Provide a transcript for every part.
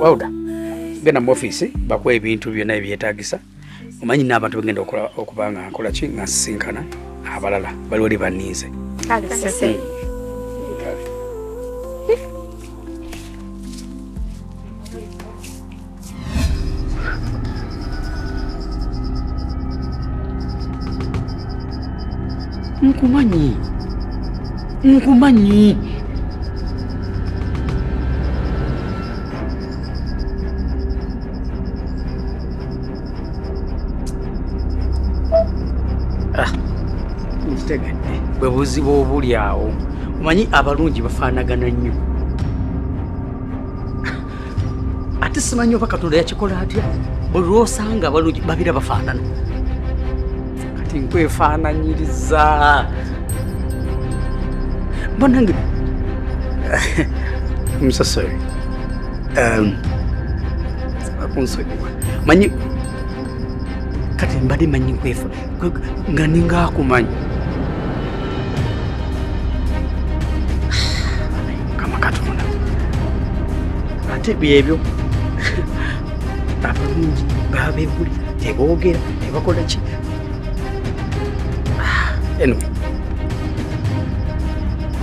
wawuda genda mu ofiisi bakuwa ebintu byonna ebyetagisa omanyi n'abantu begenda okuba nga nkola ki nga nsisinkana abalala bali wali banninze nkumanyi nkumanyi bwe buzibu obuli awo omanyi abalungi bafaanagana nnyo ate simanyi oba katonda yakikola atya buli lwosanga balungi babira bafaanana kati nkwefaananyiriza banange msasori um, akunsonyiwa manyi kati mbadde manyi nkwefa nga ninga akumanyi kamakatunda ate byebyo abalungi babebuli tebogera tebakola ki ah, anyway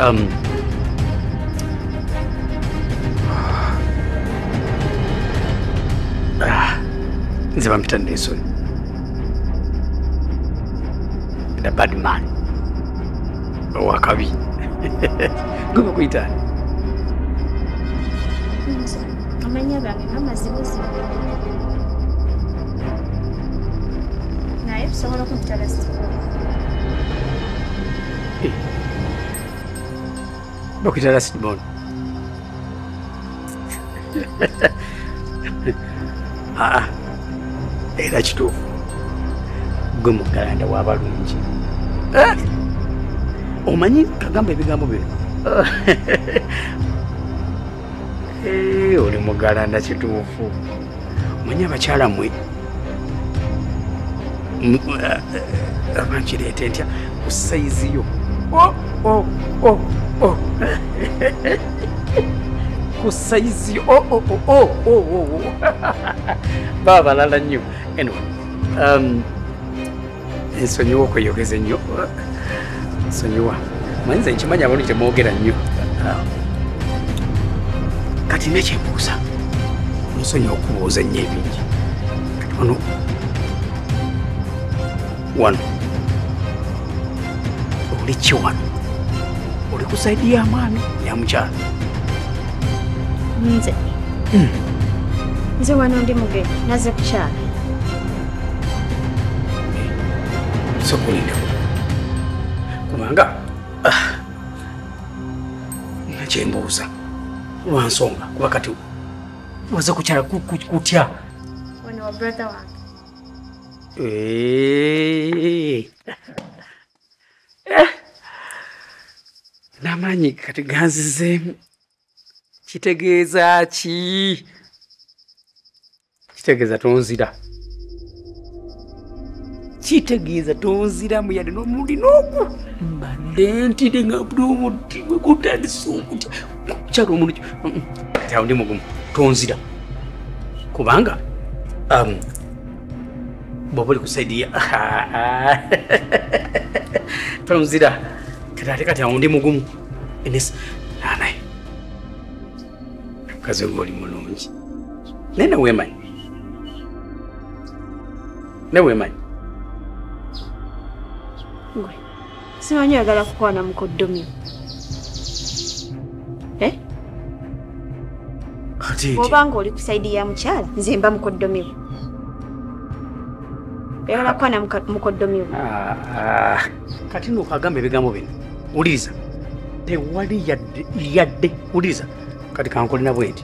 um, nze bampita nensoni the bad man owakabi gwe bakuyita amanya gange namazibuzibu naye tusobola okuntalasi bakuyita lasibon aa era kituufu gwe mugalanda wabalungi eh? omanyi kagamba ebigambo bino eh, oli mugalanda kituufu manya abakyala mwe abankireete ntya ku sayizi yo oh, oh, oh, ku sayizi yo baba balala nnyo anyway um, nsonyiwa okweyogeza ennyo nsonyiwa manyi nze nkimanya abantu temwogera nnyo kati nekyembuuza nsonyiwa okubuuza ennyo ebingi kati wano wano oli ki wano oli ku saidi ya mwami ya mukyalo nze hmm. nze wano ndi mugenyi naze kukyalo sokulinda kubanga ah, nakyembuuza lwansonga kuba kati waze kukyala kutya wano wa brother wange eh. n'amaanyi kati ganzizeemu kitegeeza ki kitegeeza tonzira kitegeeza tonziramu yadde n'omulundi n'ogu mbadde ntide nga buli omuti gwe gutandisa okutya kukyala omulundi kati awo ndi mugumu tonzira kubanga um, bwoba oli ku saidi ya tonzira kati ate kati awo ndi mugumu enes anaye kazi ngoli mulungi naye neweemanyi neweemanyi gwe simanyi oyagala kukwana mukoddomi eh? oba nga oli ku saidi ya mukyala nze mba mukoddomiwo oyagala kukwana mukoddomiwo ah, ah. kati nokagamba ebigambo bino wuliriza tewali yadde wuliriza kati kankolina bwenti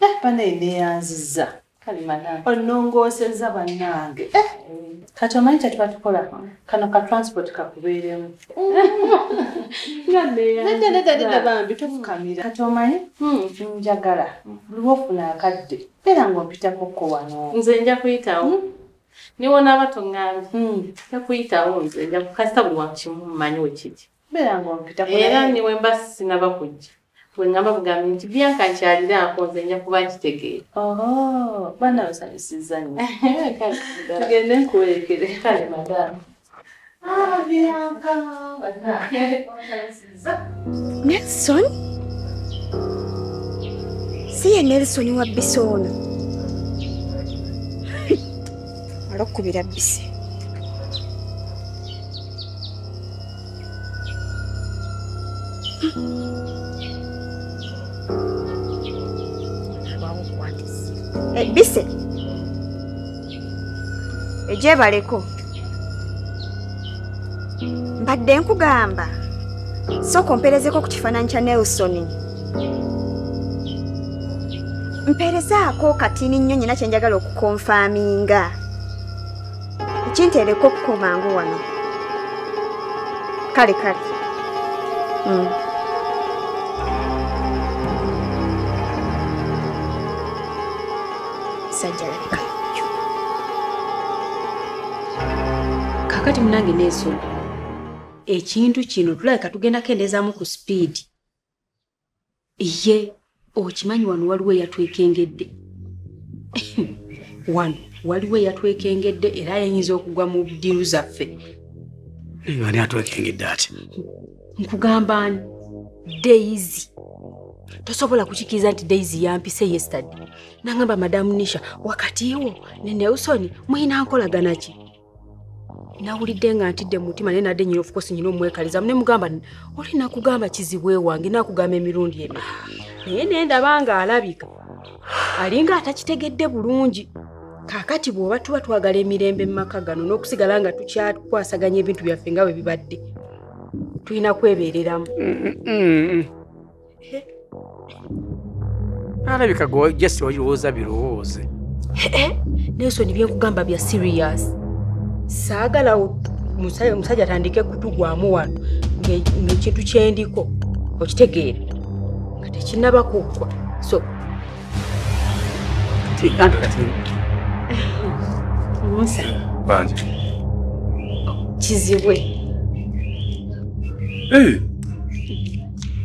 Eh, banaye neyanziza onongooseza bannange eh. kati omanyi kyetuba tukola kano ka transport kakubeeremu nedda bambi tofukamira kati omanyi hmm. njagala luba ofuna akadde era ngaompitako ko wano nze nja kuyitawo hmm? niwonaaba toŋambye hmm. nja kuyitawo nze nja kukasita buli wakimu manyi wekiki era niwe mba sinaba kujja wengamba bugambi nti byanka nkyalira ako nze nja kuba nkitegeera baana basanyusiza nyo tugende nkuwerekere kale madamu ah, nelson si ye nelson wa bisi ono alokubira bisi ebise eh, egyebaleko mbadde nkugamba sooka ompeerezeko ku kifaananyi kya nelson mpeerezaako katini nnyo nyina kyenjagala okukonfaaminga kintereko okuko mangu wano kale kale mm. sajjalabika kakati munange neesonga ekintu kino tulabika tugenda kendeezaamu ku sipiidi ye okimanyi wano waliwo eyatwekengedde wano waliwo eyatwekengedde era yayinza okugwa mu ddiru zaffe ani atwekengedde ati nkugamba ani daizi tosobola kukikiriza nti daizi yampise yestady nangamba madamu nisha wakatiwo ne nelson mulina nkolagana ki nawulidde nga ntidde mu mutima naye nadde nyina ofukosi nyina omwekaliza mune mugamba oli nakugamba kizibwe wange nakugamba emirundi emi naye naye ndaba nga alabika alinga atakitegedde bulungi kakati bwoba tuba twagala emirembe mu maka gano n'okusigala nga tukyakwasaganya ebintu byaffe nga bwe bibadde tulina kwebeereramu mm, mm, mm, alabika gwe just olowooza birowooze nelson byenkugamba bya serious saagala omusajja atandike kutugwamu wano ngaekintu kyendiko okitegeera nga tekinaba kuggwa so kizibwe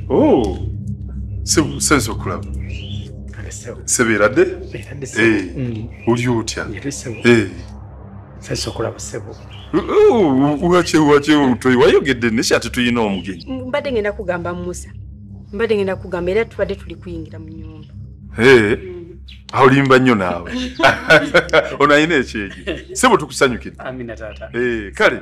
Oh, sense okulaba sebeeradde oli otya wakyewakyeomutoyi wayogedde nesi ate tulina omugenyi mm, mbadde ngenda kugamba musa mbadde ngenda kugamba era tubadde tuli kuyingira mu nyumba mm. olimba nnyo naawe ono alina ekyejo sebo tukusanyukire kale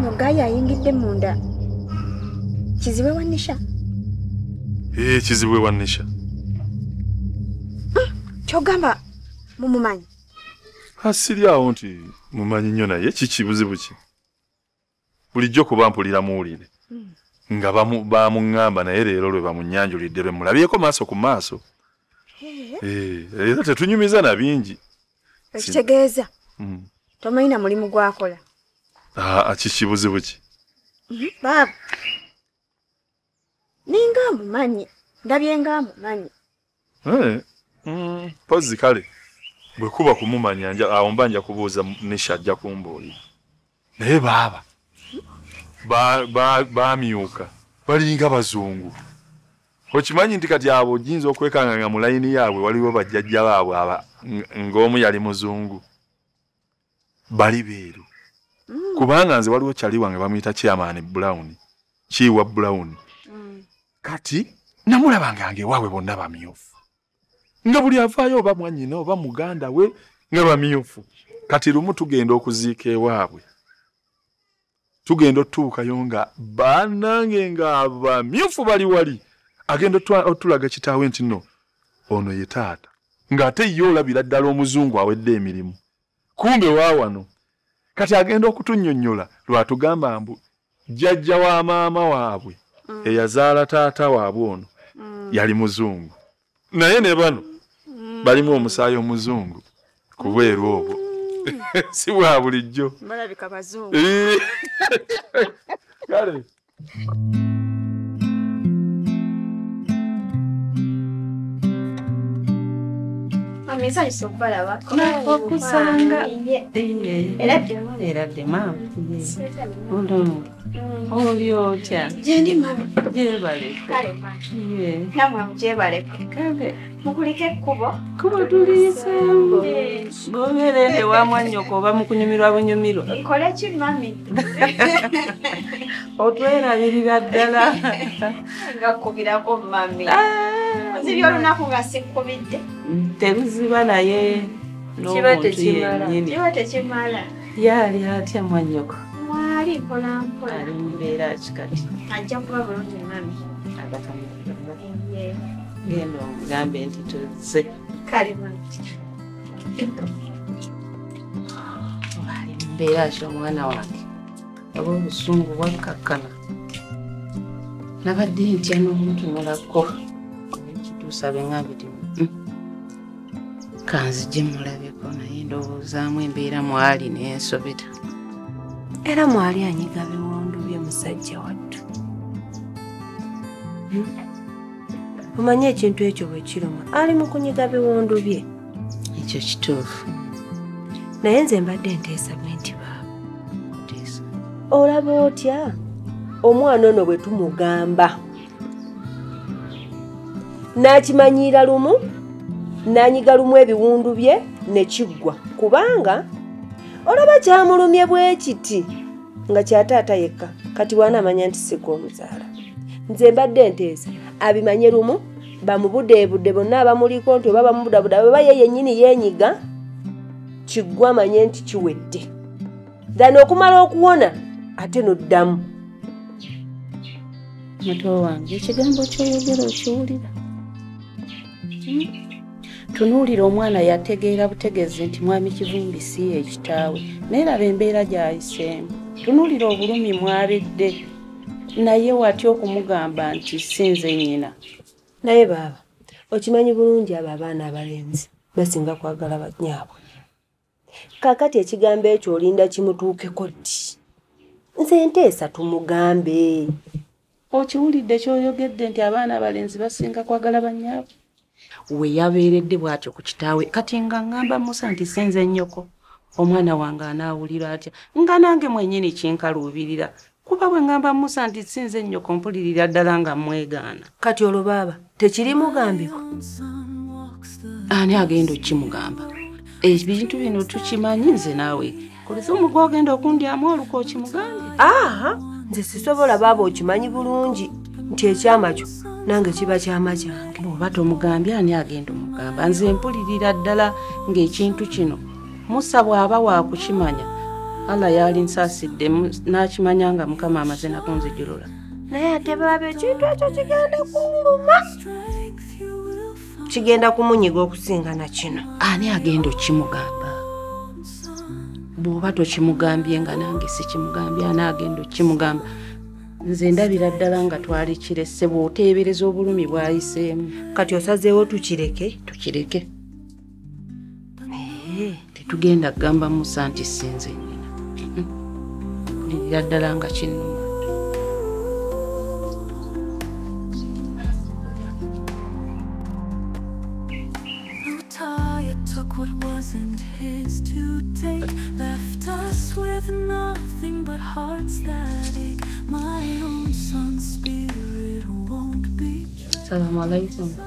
Mugayi ayingidde munda. Kizibwe wa Nisha? Eh, kizibwe wa Nisha. Hmm, kyogamba mumumanyi? Asiri awo nti mumanyi nnyo naye kiki buzibu ki? bulijjo kuba mpulira muwulire hmm. nga bamuŋŋamba naye leero lwe bamunyanjulidde lwe mulabyeko maaso ku maaso eh, era tetunyumiza na bingi ekitegeeza hmm. tomanyi na mulimu gwakola ah, kiki buzibu ki hmm, baaba ninga amumanyi ndabye nga amumanyi eh, mm, pozi kale bwe kuba kumumanya awo mba nja kubuuza nisha ajja kumbuuli naye baaba bamyuka balinga bazungu okimanyi nti kati abo ojinza okwekanga nga mu layini yaabwe waliwo bajjajja baabwe ng'omu yali muzungu bali beeru mm. kubanga nze waliwo kyali wange bamuyita chairman brown kiiwa brown mm. kati namulabanga nge waabwe bonna bamyufu nga buli avaayo oba mwanyina oba muganda we nga bamyufu kati lumu tugenda okuziika ewaabwe tugenda otuukayo nga banange nga abamyufu bali wali agenda otulaga kitaawe nti no ono ye taata ng'ate ye olabira ddala omuzungu awedde emirimu kumbe waawano kati agenda okutunyonyola lwatugamba mbu jjajja wa maama waabwe mm. eyazaala taata waabwe ono mm. yali muzungu naye ne bano mm. balimu omusaayi omuzungu kubweru obwo si bwa bulijjo balabika bazungu kale okusanga era ddemulera ddema oli otya gyendi mama gyebale kale namwe mugyebale kale mukulike ekkubo kubo tuliyiseemu bobeera ende wa mwannyoko oba mukunyumirwa bunyumirwa nkole ki mami otwerabirira ddala nga kubirako mami ah. ziby olunaku nga sikkubidde teruziba naye n'omuntu yennyini yaali atya mwanyoko waali mpola mpola ali mubeera ki kati ajja kuba bulungi mami genda omugambe nti tuzze kale mami waali mubeera ki omwana wange oba obusungu bwakkakkana nabadde ntya n'omutunulako ekituusa bengambye ti kanzije mulabeko naye ndowoozaamu embeera mwali nensobera era mwali anyiga biwundu bye musajja wattu hmm? omanyi ekintu ekyo bwe kiruma ali mu kunyiga biwundu bye ekyo kituufu naye nze mbadde nteesa bwe nti baaba olaba otya omwana ono bwe tumugamba n'akimanyiira lumu n'anyiga lumu ebiwundu bye ne kiggwa kubanga olaba kyamulumye bwe kiti nga kyataata yekka kati waanaamanya nti sika omuzaala nze mbadde nteesa abimanye lumu bamubudeebude bonna abamuliko nti oba bamubudabuda bweba ye yennyini yeenyiga kiggwa amanye nti kiwedde than okumala okuwona ate noddamu muto wange ekigambo kyoyogera okiwulira hmm? tunuulira omwana yategeera butegeezi nti mwami kivumbi si ye ekitaawe naye laba embeera gyayiseemu tunuulira obulumi mwabidde naye watya okumugamba nti sinze nyina naye baaba okimanyi bulungi abo abaana abalenzi basinga kwagala banyaabwe kakati ekigambo ekyo olinda kimutuukeko ddi nze nteesa tumugambe okiwulidde kyoyogedde nti abaana abalenzi basinga kwagala banyaabo we yabeeredde bw'atyo ku kitaawe kati nga ŋŋamba musa nti sinze nnyoko omwana wange anaawulira atya nga nange mwenyini kinkaluubirira kuba bwe ŋŋamba musa nti si nze nnyoko mpulirira ddala nga mmwegaana kati olwo baaba tekirimugambibwa ani agenda okukimugamba ebintu bino tukimanyi nze naawe kulisa omugwa ogenda okundyamu oluka okimugambe aa nze sisobola baaba okimanyi bulungi nti ekyama kyo nange kiba kyama kyange oba tomugambye ani agenda omugamba nze mpulirira ddala ng'ekintu kino musa bw'aba waakukimanya allah yaalinsaasidde n'akimanya nga mukama amaze nakunzijulula naye ate baaba ekintu ekyo kigenda kunluma kigenda kumunyiga okusinga na kino ani agenda okimugamba bw'oba tokimugambye nga nange sikimugambye ani agenda okimugamba nze ndabira ddala nga twali kirese bw'oteebereza obulumi bwayiseemu kati osazeewo tukireke tukireke tetugenda kugamba musa nti sinze nyina kulirira ddala nga kinuma Assalamu alaikum.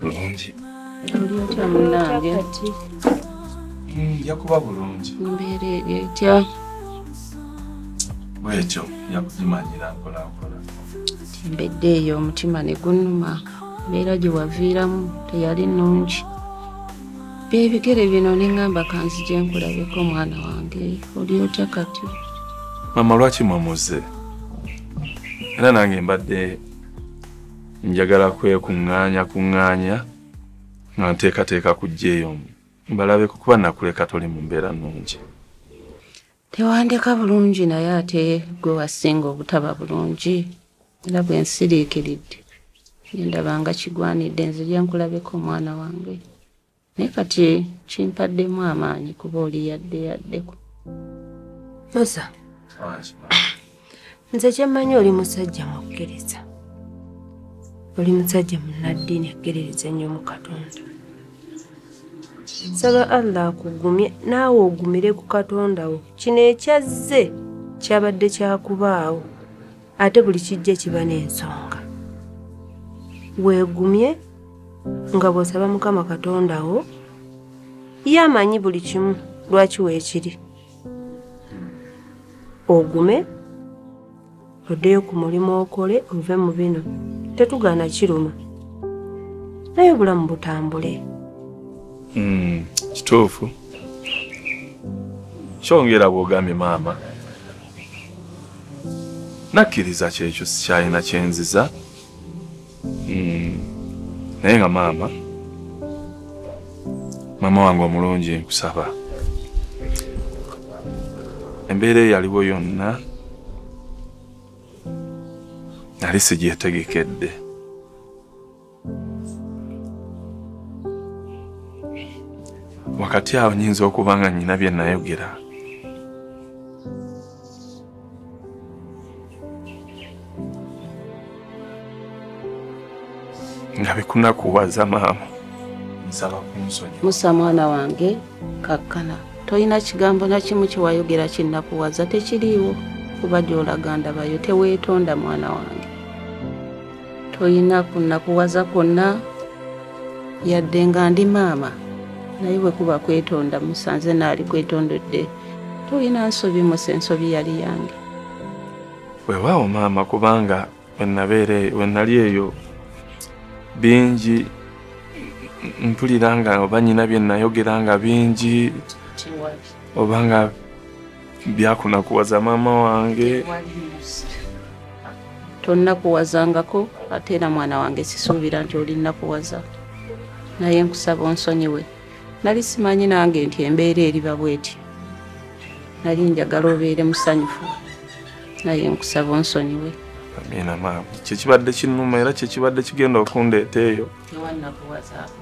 bulungi oli otya munange mm, nja kuba bulungi mbeera eri etya bwekyo nja kugimanyira mpolampola embedde eyo omutima ne gunuma mbeera gye waviiramu teyali nnungi byebigere bino neŋŋamba kanzi gye nkulabeko omwana wange oli otya kati mama lwaki mwamuze era nange mbadde njagala kwekuŋŋaanya kuŋŋaanya nga nteekateeka kujja eyo mbalabe kukuba nakuleka toli mu mbeera nnungi tewandeka bulungi naye ate gwe wasinga obutaba bulungi era bwe nsiriikiridde nendaba nga kigwanidde nzija nkulabeko omwana wange naye kati kimpaddemu amaanyi kuba oli yadde yaddeko musa nze kyemmanyi oli musajja mukkiriza oli musajja munnaddiini akkiririza ennyo mu katonda nsaba allah akugumye naawe ogumire ku katonda wo kino ekyazze kyabadde kyakubaawo ate buli kijja kiba n'ensonga weegumye nga bw'osaba mukama katonda wo ye amanyi buli kimu lwaki weekiri ogume oddeyo ku mulimu okole ove mu bino tetugaana kiruma naye obulamu butambule hmm, kituufu kyongera bw'ogambye maama nakkiriza kyekyo sikyalina kyenziza hmm. naye nga maama maama wange omulungi nkusaba embeera eyaliwo yonna nali sigyetegekedde wakati awo nyinza okuba nga nyina bye nayogera nga bikunakuwaza maama nsaba kunsonyi musa mwana wange kakkana tolina kigambo nakimu kyewayogera kinakuwaza tekiriiwo kuba gyolaga ndabayo teweetonda mwana wange toyina kunakuwaza kwonna yadde nga ndi maama naye bwe kuba kwetonda musanze naali kwetondodde toyina nsobi musa ensobi yali yange wewaawo maama kubanga wenabeera e-, wenali eyo bingi mpulira nga oba nyina byenayogera nga bingi oba nga byakunakuwaza maama wange tonnakuwazangako ate era mwana wange sisuubira nti olinnakuwaza naye nkusaba onsonyiwe nali simanyi nange nti embeera eriba bweti nali njagala obeere musanyufu naye nkusaba onsonyiwe amina maama kyekibadde kinuma era kyekibadde kigenda okundeeta eyo